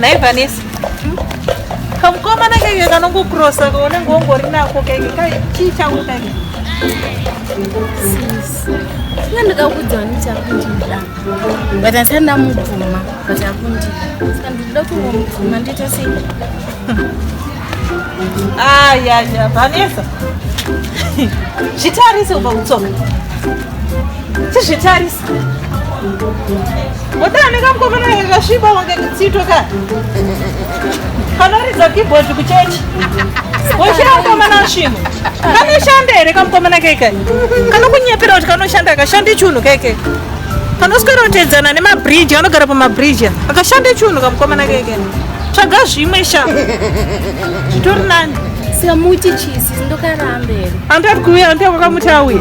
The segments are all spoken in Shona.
nhai vanesi kamukomana keke kanongokurosa kaunenge wongori nako keke chii changu keke nga ndikakuudzawo ndichakundida but asati ndamubvuma but akundida saka ndikuda kungomubvuma ndoita sei ayaya ah, vanesa zvitarise uba kutsoka chizvitarise Wadani kamkokana kakasviba wange kutsitwa ka. Kanoridza keyboard kuchechi. Woshaya mukomana svinu. Kanoshanda here kamkomana keke? Kanokunyepera kuti kanoshanda akashande chunhu keke. Kanoswera kutedzana nemabridge anogara pamabridge. Akashande chunhu kamkomana keke. Tsvaga zvimwe sha. Zvitori nani. Sika muti chisi ndokarambe. Andati kuuya andati kwakamuti auye.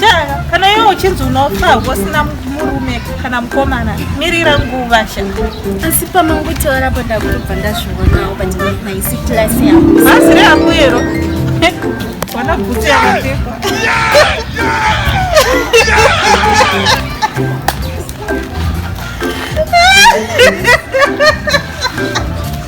Shaka, kana iwe uchinzi unofa usina murume kana mukomana mirira nguva shaka asi pamangotaura apo ndakutobva ndazvionawo but haisi class yangu bhazi reakuyero wana bhutsu yakapfekwa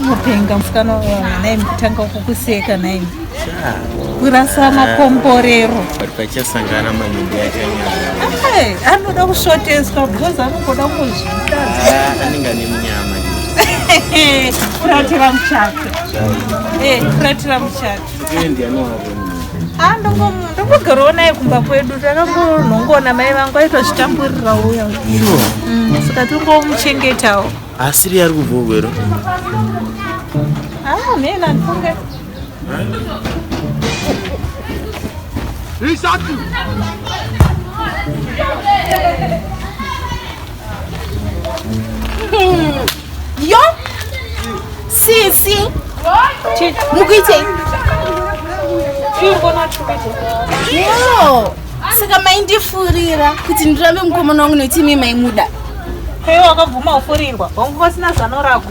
Mupenga musikana wawana naye mutanga kukuseka naye kurasana komborero pari pachasangana manyumbi achanyara anoda kusvoteswa because anongoda kuzvita ah, anenge ane munyama kuratira muchato kuratira eh, muchato Ah, ndongogarawo naye kumba kwedu takangonongoona mai vangu aitozvitamburira uya mm, saka tongomuchengetawo asiri yari kubva ugwero ah, mhena ndifunge isatu Yo sisi mukuitei? Yo saka maindifurira kuti ndirambe mukomana wangu nekuti imi maimuda. Heyo wakabvuma kufurirwa hongu vasina zano rako.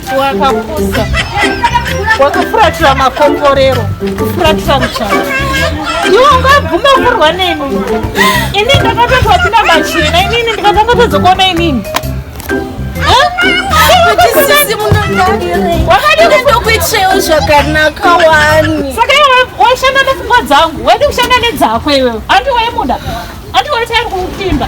wakapusa wakafuratira makomborero kufuratira muchana iwe ungabvuma kurwa neni ini ndakatotwa pina machena inini ndikatanga tozokuona inini wakadikuitrewo zvakanaka wani saka iwe waishanda nepfungwa dzangu waidi kushanda nedzako iwewe andi waimuda andi waitairi kuupfimba